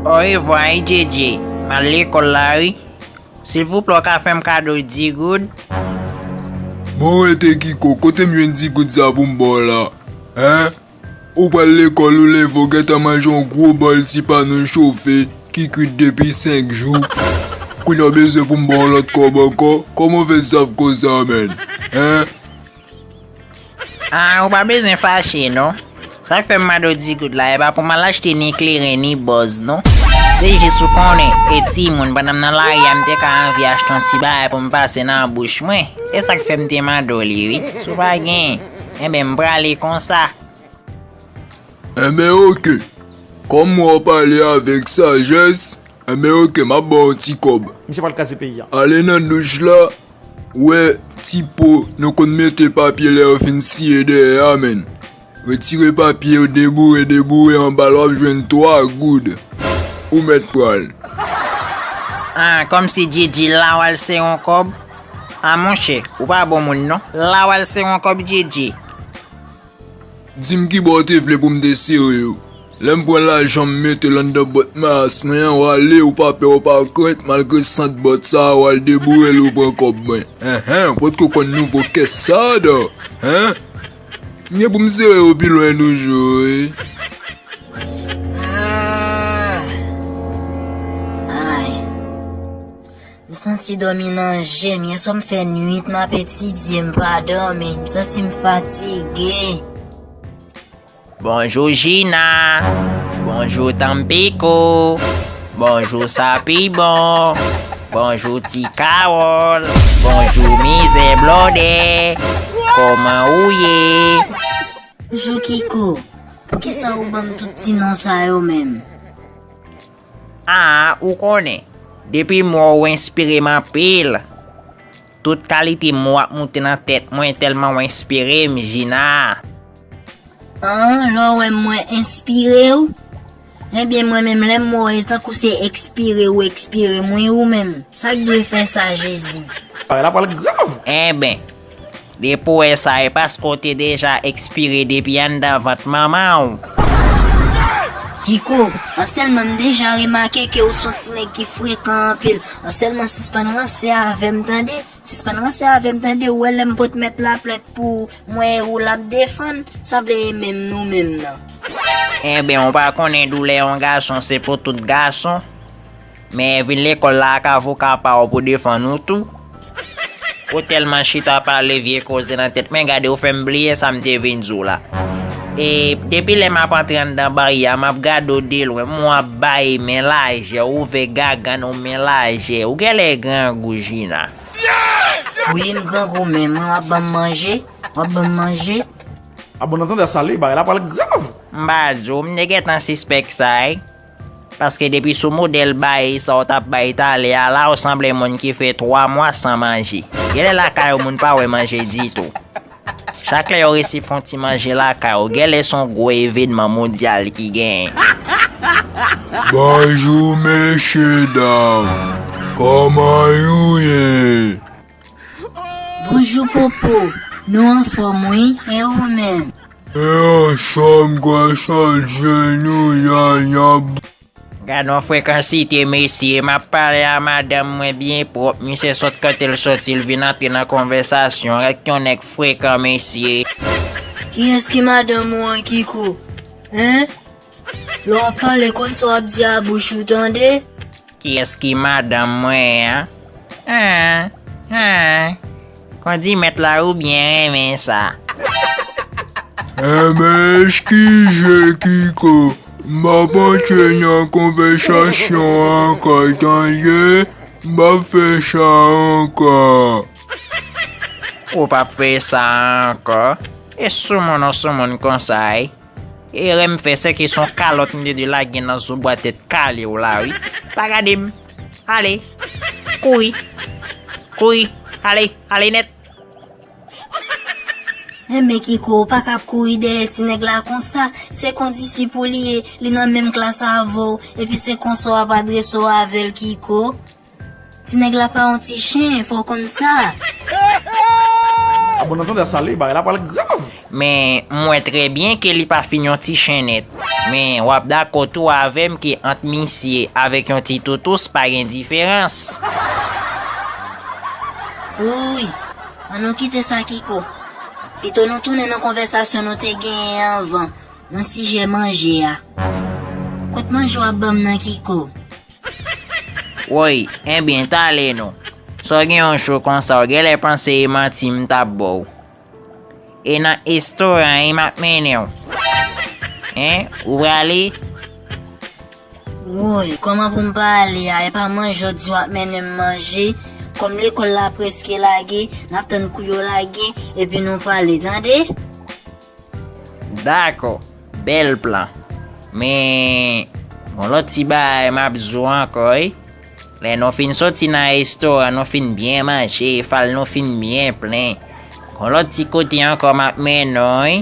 Orevwa wi Djédjé, m al lekòl la wi. Silvouplè w ka fè m kado 10 goud? Bon rete Kiko, kote m jwenn 10 goud sa pou m ba w la? Hein? Ou pral lekòl ou leve ou gentan manje yon gwo bòl ti panen chofe ki kwit depi 5 jou. Kounye a w bezwen pou m ba w lòt kòb ankò? Kòman w fè saf konsa menn? Hein? Ahh ou pa bezwen fache non. Sak fèm mande w ti kout la epa pou mal achte ni kleren ni bòz non. Se jis ou konnen e timoun pandan m nan lari a m te ka anvi achte yon ti bagay pou m pase nan bouch mwen. E sak fèm te mande w li wi. Si w pa gen, enben m prale konsa. Enben ok. Kòm w ap pale avèk sajès, enben ok m ap ba w yon ti kòb. Misye pral kraze peyi a. Ale nan douch la Wè ti po nou konn mete papye lè yo fin siye dèyè a menn. Retire papye yo deboure deboure anba l wap jwenn 3 goud. Ou mèt pral. Ah kòmsi Djidji lawal se yon kòb? Ah monchè ou pa bon moun non. Lawal se yon kòb Djidji. Di m kibò w te vle pou m te sere w. Lè m pran lajan m mete l anndan bòt mayas mwen an, w ale ou pa pè ou pa krent malgre sant bòt sa a w al deboure l ou pran kòb mwen. Enhen, w potko konn nouvo kès sa a dan? Hen? M gen pou m sere w pi lwen toujou wi. M santi dòmi nan jem yè swa m fè nwit map etidye m pa dòmi m santi m fatige. Bonjou Jina Bonjou Tampico Bonjou Sapibon Bonjou Ti Kawòl Bonjou Mizè Blòdè Kòman ou ye? Bonjou Kiko, poukisa ou banm tout ti non sa yo menm? Aa ou konnen, depi m wè w ou enspire m anpil. Tout kalite mo ap moute nan tèt mwen tèlman w enspire m Jina. Aa lè w wè m mwen enspire w? Ebyen mwen menm lè m wè w se tankou se ekspire ou ekspire m wi ou menm. Sa k dwe fè sa Jezi? Bagay la pral grav! Enben. Depo esa e paske ou te deja expire depi anndan vant manmanw. Kiko, an sèlman m deja remake ke ou son ti nèg ki frekan anpil, an sèlman sispann ranse avèm tande, sispann ranse avèm tande ou wè lèm pot mèt la plent pou ou mwen e ou lap defann, sa vle e menm nou menm nan. Enben ou pa konnen doulè yon gason se pou tout gason? Men vin lekol la ak avoka pa w pou defann ou tou. Ou telman chita pale vye koze nan tet men gade ou fem bliye sam te vin di w la. E depi lè map antre anndan barye a map gade w de lwen m wap bay men lajè w ouvè gagann w men lajè ou gèlè grangou Jina. Wi m grangou men mwen wap banm manje wap banm manje. A bon entendeur sa li bagay la pral grav. M pa di w m te gentan sispèk sa wi. Paske depi sou modèl bay sa w tap bay talè a la w sanble moun ki fè 3 mwa san manje. Genlè lakay ou moun pa wè manje ditou. Chak lè yo resi fon ti manje lakay ou genlè son gwo evenman mondyal ki genyen. Bonjou mesye dam, koman you ye? Bonjou popo Nou anfom wi e ou menm. Mwen anfom gwasal jèn ou yaya. Gadon frekansite mesye, map pale a madanm mwen byen prop, misye sot kote l soti l vin antre nan konvèsasyon, rèk yon nèg frekan mesye. Kiyes ki madanm ou an kiko? Hein Lè wap pale konn sa wap di a bouch ou tande. Kiyès ki madanm mwen an? Ahh ahh Kondimet la ou byen renmen sa. Anmeyy ki je kiko m pap antre nan konvèsasyon an ankò tande m pap fè sa ankò. Ou pap fesa ankò. E soumoun ou soumoun konsa wi. Erè m fè sèke son kalòt m tede lage nan zo bwa tèt kale w la wi. Pa gade m. Ale. Kouri. Kouri. Ale. Ale nèt. Enben Kiko ou pa kab kouri dèyè ti nèg la konsa. Se kondisip ou li ye. Li nan menm klas avè w. Epi se konsa w ap adrese w avè l Kiko. Ti nèg la pa yon ti chen fòw konn sa. A bon nan tanda sale bagay la pral grav. Men m wè trè byen ke li pa fin yon ti chen nèt. Men wap dakò tou avèm ke ant misye avèk yon ti toutous pa gen diferans. Wouuyy! An nou kite sa Kiko. Pito nou tounen nan konvèsasyon nou te genyen anvan nan sijè manje a. Kot manje wap banm nan Kiko? Woy, enbyen tale nou. Sa w gen yon cho konsa w genlè panse e manti m tap ba w. E nan estoran e map mennen w. Hein, ou prale? Woy, kòman pou m pa ale a, epa manje w di wap mennen m manje, kòm lekòl la preske lage, nap tann kou yo lage, epi nou pale, tande? Dakò, bèl plan. Men, gon lòt ti bagay m ap di w ankò wi, lè nou fin soti nan restoran, nou fin byen manje, fal nou fin byen plen, gon lòt ti kote ankò m ap mennen w wi.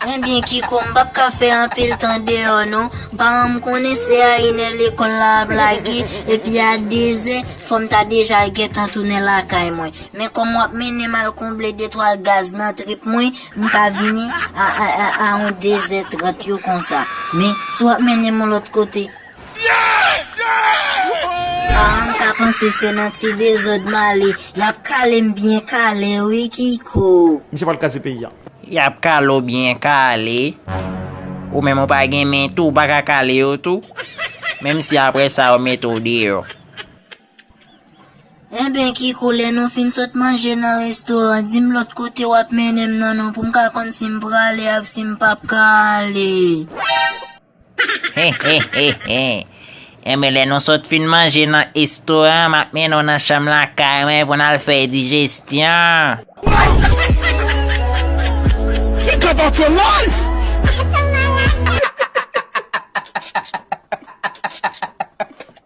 Enben Kiko, m p ap ka fè anpil tan deyò non. Paran m konnen se a inè lekòl la ap lage, epi a dezè fò m ta deja gentan tounen lakay mwen. Men kòm wap mennenm al konble detwa gaz nan trip mwen, m pa vini a on dezè trant yo konsa. Men, si wap mennenm on lòt kote. Paran m ka panse se nan ti dezòd m ale. Yap kale m byen kale wi Kiko. Misye pral kraze peyi a. Yap kale w byen kale. Ou menm ou pa gen men tou, ou pa ka kale yo tou? Menm si aprè sa yo mete w deyò. Enben Kiko lè nou fin sot manje nan restoran di m lòt kote w ap mennen m nan non pou m ka konn si m prale ak si m p ap ka ale. Hehehehe Enben lè nou sot fin manje nan estoran an m ap mennen w nan chanm lakay mwen pou n al fè dijesyon.